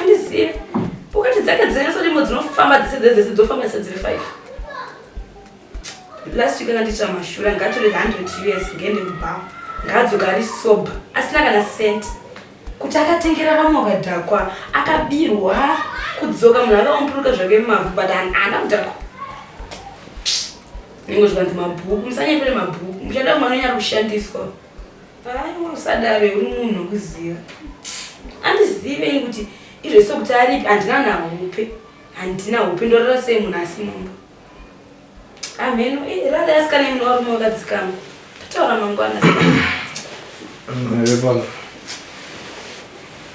Andiziye. Ukati dzake dzine sorimo dzinofamba dzese dzese dzese dzofamba dzese dziri five. Last week akandiitira mashura ngatore 100 us ngende kubhawa. Ngadzoka ari sober asina kana cent. Kuti akatengera vamwe vakadhakwa akabirwa kudzoka munhu akaomburuka zvake mumavhu but haana kudhakwa. Nengo zvikanzi mabhuku musanyepere mabhuku muchada kumwana nyari kushandiswa. Aiwa usadave uri munhu wekuziva. Andizive ini kuti izvese kuti aripi handina nahope. Handina hope ndorara sei munhu asi mumba. Amheno eh, rara yasikana imwe warume wakadzikama. Totaura mangwana. Ndevana.